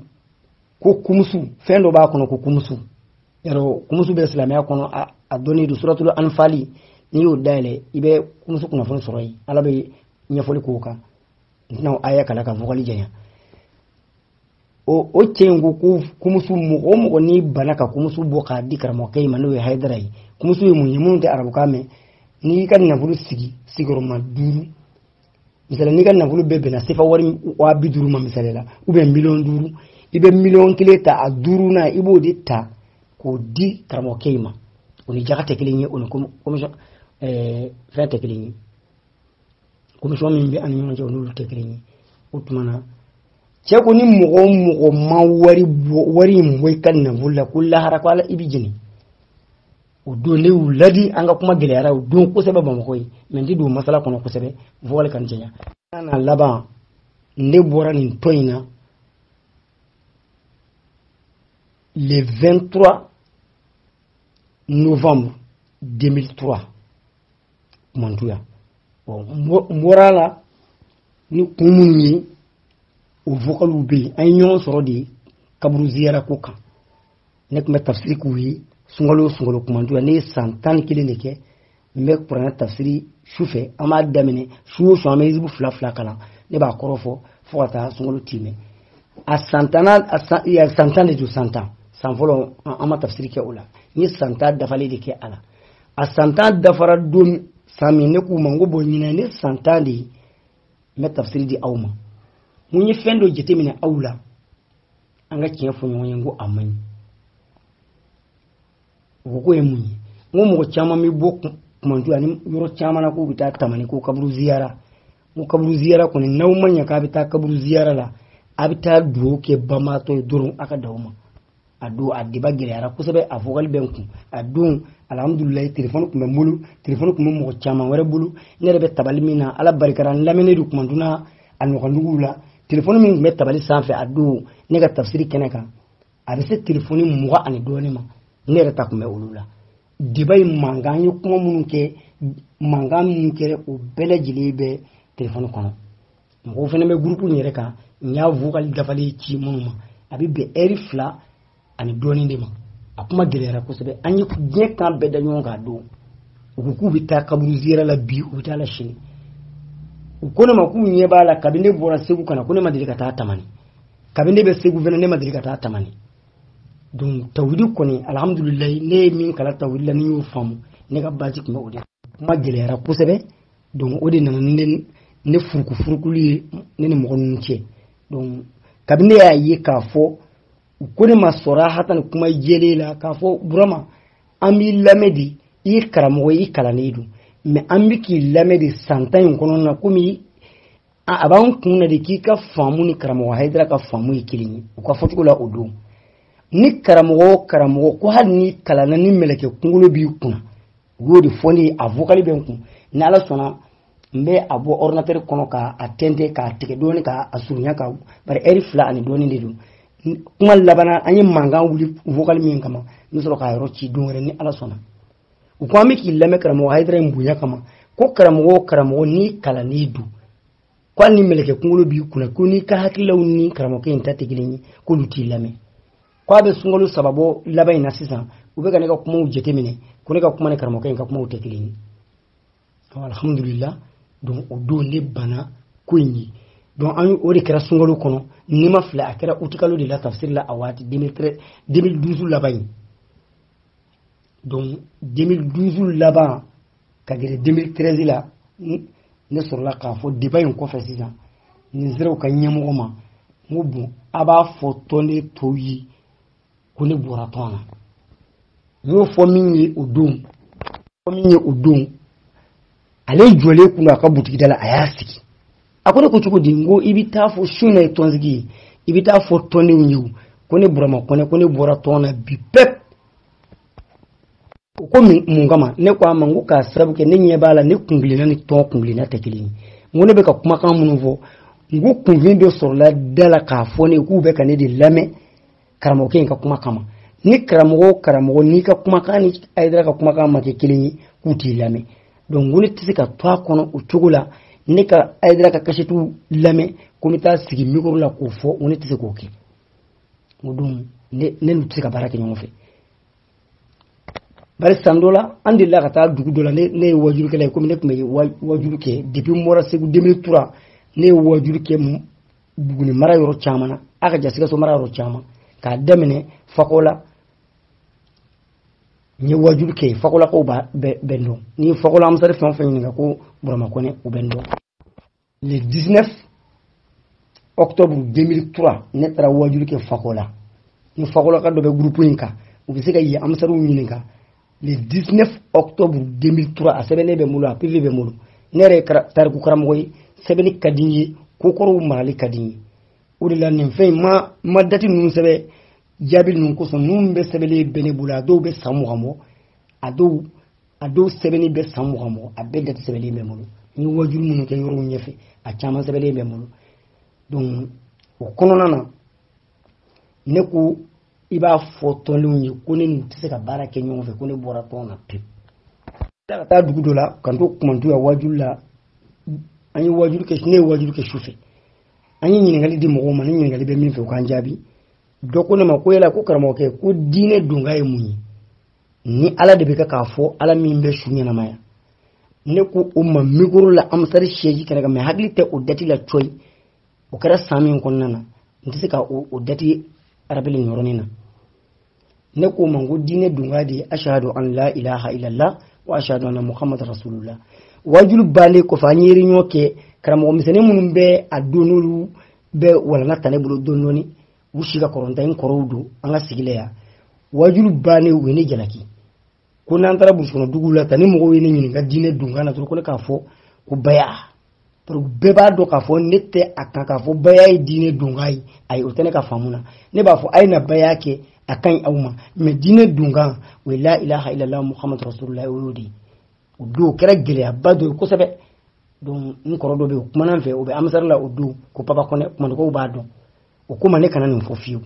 ko kumusu fɛn dɔ b'a kɔnɔ ko kumusu yɔrɔ kumusu bɛ silamɛya kɔnɔ a dɔnnen don suratulu anfali n'i y'o dayɛlɛ i bɛ kumusu kunnafoni sɔrɔ yen ala bɛ ɲɛfɔli k'o kan n'aw aya kalan ka vokali janya o o cɛ in ko ko kumusu mɔgɔ o mɔgɔ n'i bana ka kumusu bɔ k'a di karamɔgɔkɛ in ma n'o ye hayidara ye kumusu ye mun ye minnu tɛ arabukan mɛn n'i y'i ka nafolo sigi sigiyɔrɔma duuru misali n'i ka nafolo bɛɛ bɛnna sefa wari waa bi duuru ma misali la ou bien miliyɔn duuru i bɛ miliyɔn kelen ta a duurunan i b'o de ta k'o di karamɔgɔkɛ in ma o ni jaka tɛ kelen ye o ni fɛn tɛ kelen ye komisɔn min bɛ an ni ɲɔgɔn cɛ n'olu tɛ kelen ye o tuma na cɛ ko ni mɔgɔ o mɔgɔ ma wari bɔ wari in bɔ i ka nafolo la ko lahara ko ala i bɛ jeni o don ne y'u ladi an ka kuma gɛlɛyara o don kosɛbɛ bamakɔ yen mais n tɛ don masala kɔnɔ kosɛbɛ vokali kana janya a laban ne bɔra nin tɔn in na le 23 novembre 2003 mantu yan n bɔra a la ni kun minnu ye o vokaliw bɛ yen an ye ɲɔgɔn sɔrɔ de kaburu ziyara ko kan ne tun bɛ tafsiri k'u ye sunkalo sunkalo kumantu yan ne ye san tan ni kelen de kɛ n bɛ kuranɛ tafsiri su fɛ an b'a daminɛ su o su an bɛ hizibu fila fila kalan ne b'a kɔrɔ fɔ fo ka taa sunkalo timɛ a san tan a san tan de don san tan san fɔlɔ an ma tafsiri kɛ o la n ye san tan dafalen de kɛ a la a san tan dafara don san min ne k'u ma n ko bon ɲinan ne san tan de ye n bɛ tafsiri di aw ma n ko n ye fɛn dɔ jateminɛ aw la an ka tiɲɛ fɔ ɲɔgɔn ye n ko a man ɲi u ko k'o ye mun ye n ko mɔgɔ caman bɛ bɔ kumantu ani yɔrɔ caman na k'u bɛ taa tamani ko kaburu ziyara n ko kaburu ziyara kɔni n'aw ma ɲɛ k'a bɛ taa kaburu ziyara la a bɛ taa dugawu kɛ banbaatɔ ye dɔrɔn a ka dan o ma a don a débat gɛlɛyara kosɛbɛ a vokali bɛ n kun a don alhamdulilayi telefɔni tun bɛ n bolo telefɔni tun bɛ mɔgɔ caman wɛrɛ bolo ne yɛrɛ bɛ tabali min na ala barika la n lamɛnnen don kumantu n'a ɲɔgɔnduguw la telefɔni min tun bɛ tabali sanfɛ a don ne ka tafsiri kɛnɛ kan a bɛ se telefɔni mugan ani dɔɔnin ma ne yɛrɛ ta tun bɛ olu la débat ye mankan an ye kuma minnu kɛ mankan minnu kɛra o bɛɛ lajɛlen bɛ telefɔni kɔnɔ mɔgɔw fana bɛ gurupu in yɛrɛ kan n y'a vokali dafalen ci minnu ma a bɛ bɛn ɛri fila ani dɔɔnin de ma a kuma gɛlɛyara kosɛbɛ an ye diɲɛ kan bɛɛ da ɲɔgɔn kan don u ko k'u bɛ taa kaburu ziyara la bi u bɛ taa la sini u ko ne ma k'u ɲɛ b'a la kabini ne bɔra segu ka na ko ne ma deli ka taa tamani kabini ne bɛ segu fana ne ma deli ka taa tamani donc tawhidi kɔni alhamdulilayi ne ye min kalan tawhidi la ne y'o faamu ne ka baasi tun bɛ o de kuma gɛlɛyara kosɛbɛ donc o de nana ne ne furukufurukulu ye ne ni mɔgɔ ninnu cɛ donc kabini ne y'a ye k'a fɔ u ko ne ma sɔrɔ hata ni kuma jɛlen la k'a fɔ burama an b'i lamɛn de i ye karamɔgɔ ye i kalannen don mɛ an bɛ k'i lamɛn de san tan in kɔnɔna na komi a b'an kun na de k'i ka faamu ni karamɔgɔ hayidara ka faamu ye kelen ye u ka fɔcogo la o don ni karamɔgɔ o karamɔgɔ ko hali n'i kalanna ni mɛlɛkɛ kunkolo b'i kunna u y'o de fɔ ne ye a vokali bɛ n kun ni ala sɔnna n bɛ a bɔ ordinatɛri kɔnɔ ka a tɛntɛn k'a tigɛ dɔɔni ka a surunya ka bari ɛri fila ani dɔɔni de don kuma labanna an ye mankan wuli vokali min kama n bɛ sɔrɔ k'a yɔrɔ ci don wɛrɛ ni ala sɔnna u ko an bɛ k'i lamɛn karamɔgɔ hayidara in bonya kama ko karamɔgɔ o karamɔgɔ n'i kalannen don ko hali ni mɛlɛkɛ kunkolo b'i kunna ko n'i ka hakililaw ni karamɔgɔkɛ in ta tɛ kelen ye k'olu t'i lamɛn k'a bɛ sunkalo saba bɔ laban in na sisan u bɛ ka ne ka kumaw jateminɛ ko ne ka kuma ni karamɔgɔkɛ in ka kumaw tɛ kelen ye alhamdulila donc o don ne banna ko in ye donc an o de kɛra sunkalo kɔnɔ ni n ma fili a kɛra utikalo de la tafsiri la a waati 2012 laban in donc 2012 laban ka gɛrɛ 2013 la ne sɔrɔla k'a fɔ deba in kɔfɛ sisan ne sera u ka ɲɛmɔgɔ ma n ko bon a b'a fɔ tɔnden tɔw ye ko ne bɔra tɔn na n y'o fɔ min ye o don fɔ min ye o don ale jɔlen kun don a ka butigida la a y'a sigi a ko ne ko cogo di n ko i bɛ taa fɔ su nin ye tɔnsigi ye i bɛ taa fɔ tɔndenw ye ko ne burama kɔnɛ ko ne bɔra tɔn na bi pɛp o ko mun kama ne ko a ma n ko k'a sababu kɛ ne ɲɛ b'a la ne kungilenna ni tɔn kungilenna tɛ kelen ye n ko ne bɛ ka kumakan minnu fɔ n ko kunfin dɔ sɔrɔla da la k'a fɔ ne k'u bɛ ka ne de lamɛn karamɔgɔkɛ in ka kuma kama ni karamɔgɔ o karamɔgɔ n'i ka kumakan ni hayidara ka kumakan ma kɛ kelen ye k'u t'i lamɛn donc n ko ne tɛ se ka to a kɔnɔ o cogo la ne ka hayidara ka kasetiw lamɛn ko n bɛ taa sigi mikoro la k'o fɔ n ko ne tɛ se k'o kɛ o don ne n'u tɛ se ka baara kɛ ɲɔgɔn fɛ bari san dɔ la an delila ka taa dugu dɔ la ne ye waajulikɛla ye komi ne tun bɛ waajuli kɛ depi n bɔra segu 2003 ne ye waajuli kɛ buguni mara yɔrɔ caman na a ka ca sikaso mara yɔrɔ caman k'a daminɛ fakola n ye waajuli kɛ fakolakaw bɛɛ bɛ n dɔn n'i fakola ansari fɛn o fɛn ɲininka ko burama kɔnɛ u bɛ n dɔn le 19 octobre 2003 ne taara wajulu kɛ fakola ni fakolaka dɔ bɛ gurupu in kan u bɛ se ka yen amisariw ɲininka le 19 octobre 2003 a sɛbɛnnen bɛ n bolo a pv bɛ n bolo ne yɛrɛ ye tariku karamɔgɔ ye sɛbɛnni ka di n ye kokɔrɔw marali ka di n ye o de la nin fɛn in ma ma dati ninnu sɛbɛn jaabi ninnu kosɔn ninnu bɛɛ sɛbɛnlen bɛ ne bolo a dɔw bɛ san mugan bɔ a dɔw a dɔw sɛbɛnni bɛ san mugan bɔ a bɛɛ dati sɛbɛnlen bɛ n bolo n ye wajulu minnu kɛ yɔrɔw ɲɛfɛ a caman sɛbɛnlen bɛ n bolo donc o kɔnɔna na ne ko i b'a fɔ tɔndenw ye ko ne n'u tɛ se ka baara kɛ ɲɔgɔn fɛ ko ne bɔra tɔn na pewu ka taa dugu dɔ la ka n to kumantu yan wajulu la an ye wajulu kɛ ne ye wajulu kɛ su fɛ an ye ɲininkali di mɔgɔw ma ni ɲininkali bɛ min fɛ u k'an jaabi dɔ ko ne ma ko yala ko karamɔgɔkɛ ko diinɛ donkan ye mun ye ni ala de bɛ kɛ k'a fɔ ala min bɛ su ɲɛnamaya ne ko o ma mikoro la amisari siyɛzi kɛnɛ kan mɛ n hakili tɛ o dati la coyi o kɛra san min kɔnɔna na n tɛ se ka o dati arabili nin yɔrɔnin na ne ko a ma ko diinɛ donkan de ye ashadu an la ilaha illallah wa ashadu anna muhammad rasulullah wajulu balen kɔfɛ an ye ereyɔn kɛ karamɔgɔ misɛnnin minnu bɛ a don n'olu bɛ walanga ta ne bolo dɔɔni dɔɔni u si ka kɔrɔ n ta ye n kɔrɔw don an ka sigila yan wajulu bannen u ye ne jalaki ko n'an taara burusikɔnɔ duguw la tan ni mɔgɔw ye ne ɲininka diinɛ donkan na dɔrɔn ko ne k'a fɔ ko baya bɛɛ b'a dɔn k'a fɔ ne tɛ a kan k'a fɔ baya ye diinɛ donkan ye ayi o tɛ ne ka faamu na ne b'a fɔ a ye na baya kɛ a ka ɲi aw ma mɛ diinɛ donkan o ye la ilaha illallah muhammadu rasulullah o y'o de ye o don o kɛra gɛlɛyaba dɔ ye kosɛbɛ donc n kɔrɔ dɔ bɛ yen o kumana n fɛ o bɛ amisari la o tɔgɔ papa kɔnɛ kumantukaw b'a dɔn o ko n ma ne kana nin fɔ fiyewu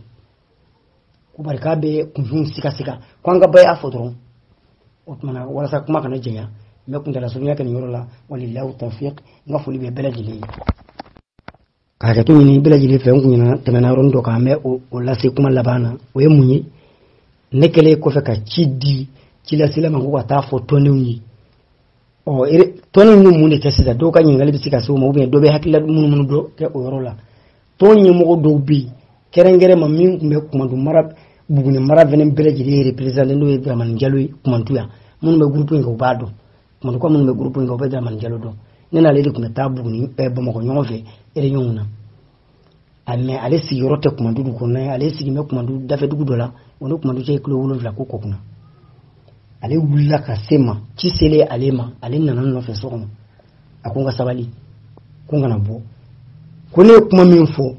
ko bari k'a bɛ kunfinw sikasika ko an ka baya fɔ dɔrɔn o tumana walasa kuma kana janya n bɛ kuntala surunya kɛ nin yɔrɔ la walillahi tawfiq n ka foli bɛ bɛɛ lajɛlen ye ka hakɛto ɲini bɛɛ lajɛlen fɛ n kun ɲinɛna tɛmɛna yɔrɔnin dɔ kan n bɛ o lase kuma laban na o ye mun ye ne kɛlen kɔfɛ ka ci di cilasela ma ko ka taa fɔ tɔndenw ye ɔ tɔn ye mun de kɛ sisan dɔw ka ɲininkali bɛ se ka se o ma ubiyɛn dɔ bɛ hakilila munumunu dɔ kɛ o yɔrɔ la tɔn ɲɛmɔgɔ dɔw bɛ yen kɛrɛnkɛrɛn ma min tun bɛ kumantu mara buguni mara fɛnɛ bɛɛ lajɛlen reperezante n'o ye daramani jalo ye kumantu yan minnu bɛ gurupu in kan u b'a dɔn kumantuka minnu bɛ gurupu in kan u bɛ daramani jalo dɔn ne n'ale de tun bɛ taa buguni bamakɔ ɲɔgɔn fɛ ereyɔnw na a mɛ ale sigiyɔrɔ tɛ kumantu dugu kɔnɔ ale sigi bɛ kumantu dafɛ dugu dɔ la o ni kumantu cɛ kilo wolonwula ko kɔkuna ale wulila ka se n ma ci selen ale ma ale nana n nɔfɛ so kɔnɔ a ko n ka sabali ko n kana bɔ ko ne ye kuma min fɔ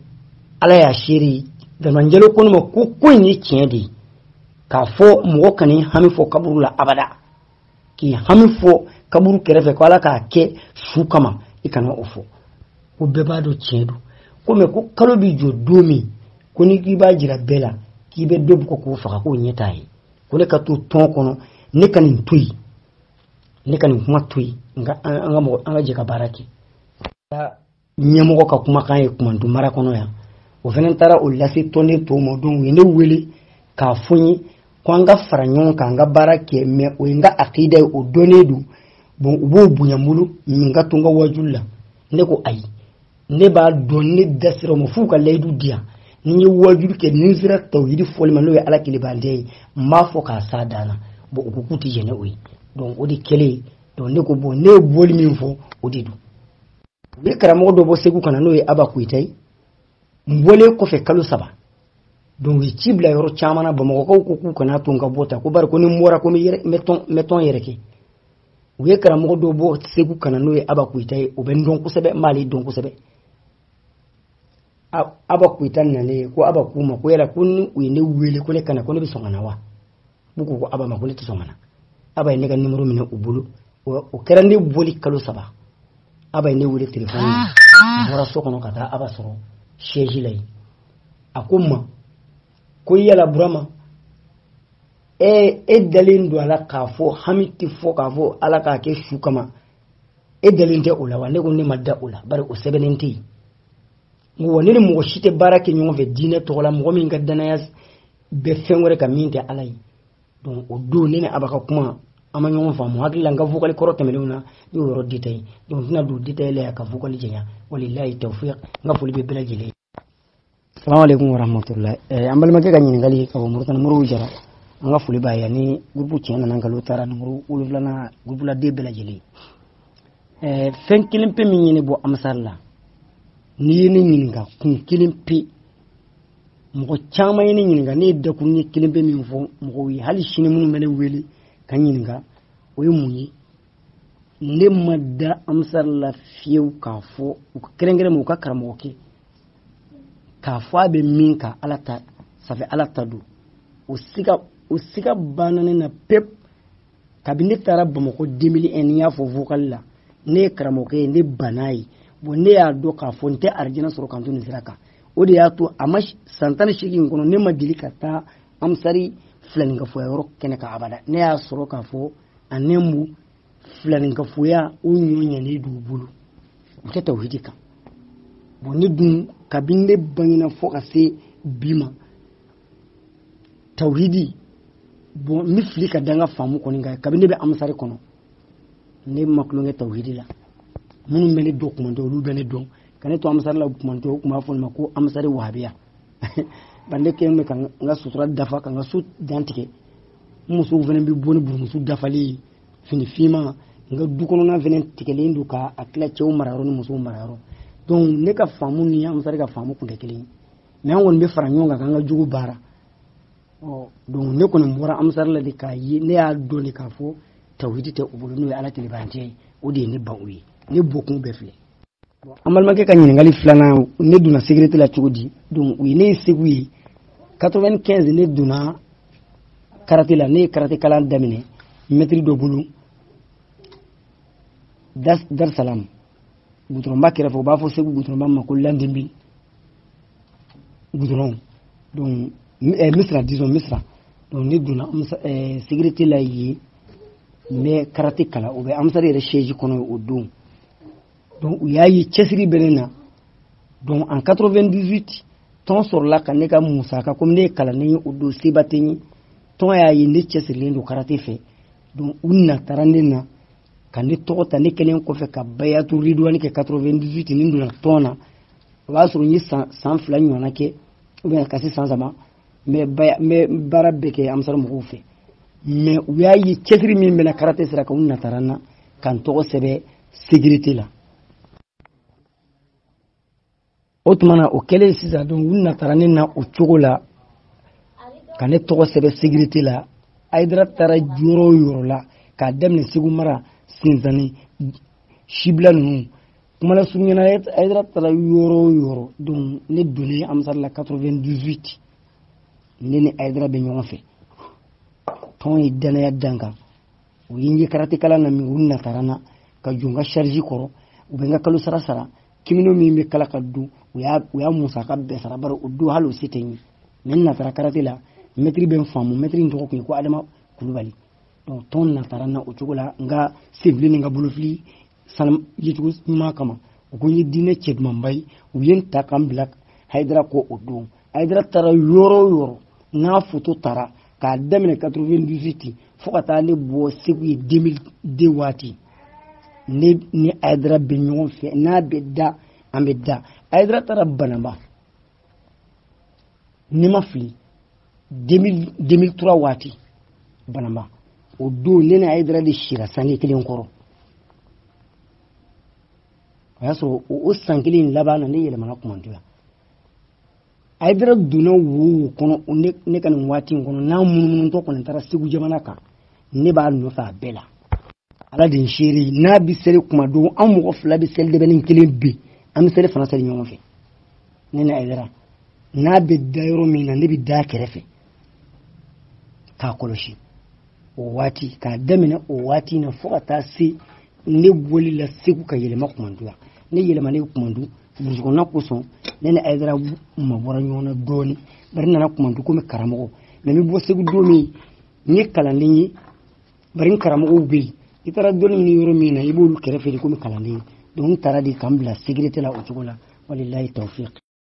ala y'a seere daramani jalo ko ne ma ko ko in ye tiɲɛ de ye k'a fɔ mɔgɔ kana hami fɔ kaburu la abada k'i hami fɔ kaburu kɛrɛfɛ ko ala k'a kɛ su kama i kana o fɔ ko bɛɛ b'a dɔn tiɲɛ don ko mɛ ko kalo b'i jɔ don min ko ni k'i b'a jira bɛɛ la k'i bɛ dɔ bugɔ k'o faga k'o ɲɛ t'a ye ko ne ka to tɔn kɔnɔ ne ka nin to yen ne ka nin kuma to yen an ka jɛ ka baara kɛ ɲɛmɔgɔ ka kumakan ye kumantu mara kɔnɔ yan o fana taara o lase tɔnden tɔw ma donc u ye ne wele k'a fɔ n ye ko an ka fara ɲɔgɔn kan an ka baara kɛ mɛ o ye n ka akida ye o dɔnnen don bon u b'o bonya n bolo min ka to n ka wajuli la ne ko ayi ne b'a dɔn ne da sera o ma f'u ka layidu di yan ni n ye wajuli kɛ ni n sera tawhidi fɔli ma n'o ye ala kelen bato ye n b'a fɔ k'a s'a dan na bon u ko k'u tɛ jɛn n'o ye donc o de kɛlen donc ne ko bon ne ye bɔli min fɔ o de don u ye karamɔgɔ dɔ bɔ segu ka na n'o ye aba koyita ye n bɔlen kɔfɛ kalo saba donc u ye ci bila yɔrɔ caman na bamakɔkaw ko k'u kana to n ka bɔ tan ko bari ko ni n bɔra ko n bɛ tɔn yɛrɛkɛ u ye karamɔgɔ dɔ bɔ segu ka na n'o ye aba koyita ye o bɛ n dɔn kosɛbɛ n b'ale dɔn kosɛbɛ aba koyita nalen ko aba k'u ma ko yala ko ni u ye ne wele ko ne ka na ko ne bɛ sɔn ka na wa u ko aba ma ko ne tɛ sɔn ka na aba ye ne ka nimoro minɛ u bolo o kɛra ne bɔli kalo saba aba ye ne wele telefɔni na n bɔra so kɔnɔ ka taa aba sɔrɔ siyɛzi la yen a ko n ma ko yala burama e dalen don a la k'a fɔ hami tɛ fɔ k'a fɔ ala k'a kɛ su kama e dalen tɛ o la wa ne ko ne ma da o la bari o sɛbɛnnen tɛ yen wa ne ni mɔgɔ si tɛ baara kɛ ɲɔgɔn fɛ diinɛ tɔgɔ la mɔgɔ min ka danaya bɛ fɛn wɛrɛ kan min tɛ ala ye donc o don ne ni aba ka kuma an ma ɲɔgɔn faamu hakili la n ka vokali kɔrɔ tɛmɛnenw na ne y'o yɔrɔ detaye donc n tɛna don detaye la yan ka vokali janya wabilayi tawfiq n ka foli bɛ bɛɛ lajɛlen ye salamu aleykum warahmatulahi eh, an balimakɛ ka ɲininkali ka bɔ moritani moriba jara an ka foli b'a ye ni gurupu tiɲɛ nana nkalon taara nimoro wolonfilanan gurupuladen bɛɛ lajɛlen eh, fɛn kelen pe min ye ne bɔ ansari la n'i ye ne ɲininka kun kelen pe mɔgɔ caman ye ne ɲininka ne ye dakuruɲɛ kelen pe min fɔ mɔgɔw ye hali sini minnu bɛ ne wele ka ɲininka o ye mun ye ne ma da ansari la fiyewu k'a fɔ u ka kɛrɛnkɛrɛn ma u ka karamɔgɔkɛ k'a fɔ a bɛ min kan ala ta sanfɛ ala ta don o siga banna ne na pewu kabini ne taara bamakɔ 2001 ne y'a fɔ vocal la ne ye karamɔgɔkɛ ye ne banna ye bon ne y'a dɔn k'a fɔ n tɛ arijana sɔrɔ ka n to nin sira kan o de y'a to a ma san tan ni seegin kɔnɔ ne ma deli ka taa ansari filaninkafoya yɔrɔ kɛnɛ kan abada ne y'a sɔrɔ k'a fɔ a ne mu filaninkafoya o ɲɔ ɲɛnen d'u bolo u tɛ tawhidi kan bon ne dun kabini ne bangena fɔ ka se bi ma tawhidi bon n bɛ fili ka da n ka faamu kɔni kan kabini ne bɛ amusari kɔnɔ ne ma tulonkɛ tawhidi la minnu bɛ ne dɔn kumantu olu bɛ ne dɔn ka ne to amusari la kumantu u tun b'a fɔ ne ma ko amusari wahabiya bari ne kɛlen bɛ ka n ka sutura dafa ka n ka so dan tigɛ n musow fana bɛ bɔ ni burumusu dafalen fini finma n ka du kɔnɔna fana tigɛlen don k'a tila cɛw marayɔrɔ ni musow marayɔrɔ donc ne ka faamu ni amusari ka faamu tun tɛ kelen ye mais an kɔni bɛ fara ɲɔgɔn kan k'an ka jugu baara ɔ donc ne kɔni bɔra amusari la de k'a ye ne y'a dɔn de k'a fɔ tawhidi tɛ u bolo n'o ye ala kelen bato ye o de ye ne ban o ye ne bɔkun bɛɛ filɛ an balimakɛ ka ɲininkali filanan ne donna sécurité la cogo di donc u ye ne ye segu yen 95 ne donna karate la ne ye karate kalan daminɛ mɛtiri dɔ bolo dar salam gudɔrɔnba kɛrɛfɛ u b'a fɔ segu gudɔrɔnba ma ko l'an 2000 gudɔrɔn donc eh, misira disons misira donc ne donna eh, sécurité la yen n bɛ karate kalan o bɛ amisari yɛrɛ siège kɔnɔ o don donc u y'a ye cɛsiri bɛ ne na donc en 98 tɔn sɔrɔla ka ne ka musaka komi ne ye kalanden ye o don seba tɛ n ye tɔn y'a ye ne cɛsirilen don karate fɛ donc u natara ne na ka ne tɔgɔ ta ne kɛlen kɔfɛ ka bayatu ridwani kɛ 98 ne donna tɔn na o b'a sɔrɔ n ye san san fila ɲɔgɔnna kɛ ou bien ka se san saba n bɛ baya n bɛ baara bɛɛ kɛ amisari mɔgɔw fɛ mais u y'a ye cɛsiri min bɛ n na karate sira kan u natara n na ka n tɔgɔ sɛbɛn sécurité la o tuma na o kɛlen sisan donc u natara ne na o cogo la ka ne tɔgɔ sɛbɛn sécurité la hayidara taara yɔrɔ o yɔrɔ la k'a daminɛ segu mara sinsani sibila ninnu kuma lasurunya na hayidara taara yɔrɔ o yɔrɔ donc ne donnen amisari la 98 ne ni hayidara bɛ ɲɔgɔn fɛ tɔn ye danaya da n kan u ye n ye karate kalan na min u natara n na ka jɔ n ka charge kɔrɔ u bɛ n ka kalo sara sara kimono min bɛ kala ka don u y'a u y'a musaka bɛɛ sara bari o don hali o se tɛ n ye mais n natara karate la mɛtiri bɛ n faamu mɛtiri in tɔgɔ tun ye ko adama kulubali donc tɔn natara n na o cogo la n ka senfili ni n ka bolofili sanuya cogo ɲuman kama u ko n ye diinɛ cɛ dumanba ye u ye n ta ka n bila hayidara kɔ o don hayidara taara yɔrɔ o yɔrɔ n'a foto tara k'a daminɛ 98 fo ka taa ne bɔ segu yen 2002 waati ne ni hayidara bɛ ɲɔgɔn fɛ n'a bɛ da an bɛ da hayidara taara banamba ni n ma fili 2003 waati banamba o don ne ni hayidara de sira sange kelen kɔrɔ o y'a sɔrɔ o san kelen laban na ne yɛlɛmana kumantu yan ayidara donna wo wo kɔnɔ ne ka nin waati in kɔnɔ n'a munumunutɔ kɔni taara segu jamana kan ne b'a nɔfɛ a bɛɛ la ala de n seere n'a bɛ seli kuma dɔ an mɔgɔ fila bɛ seli dɛbɛnnin kelen pe an bɛ selifana seli ɲɔgɔn fɛ ne ni ayidara n'a bɛ da yɔrɔ min na ne bɛ d'a kɛrɛfɛ k'a kɔlɔsi o waati k'a daminɛ o waati na fo ka taa se ne bɔli la segu ka yɛlɛma kumandu la ne yɛlɛmalen kumandu burusikɔnɔna kosɔn ne ni ayidara mabɔra ɲɔgɔn na dɔɔni bari n nana kumandu komi karamɔgɔ mais n bɛ bɔ segu don min n ye kalanden ye bari n karamɔgɔw bɛ yen i taara dɔnni ɲini yɔrɔ min na i b'olu kɛrɛfɛ de komi kalanden donc n taara de ka n bila sécurité la o cogo la walilayi tawfiq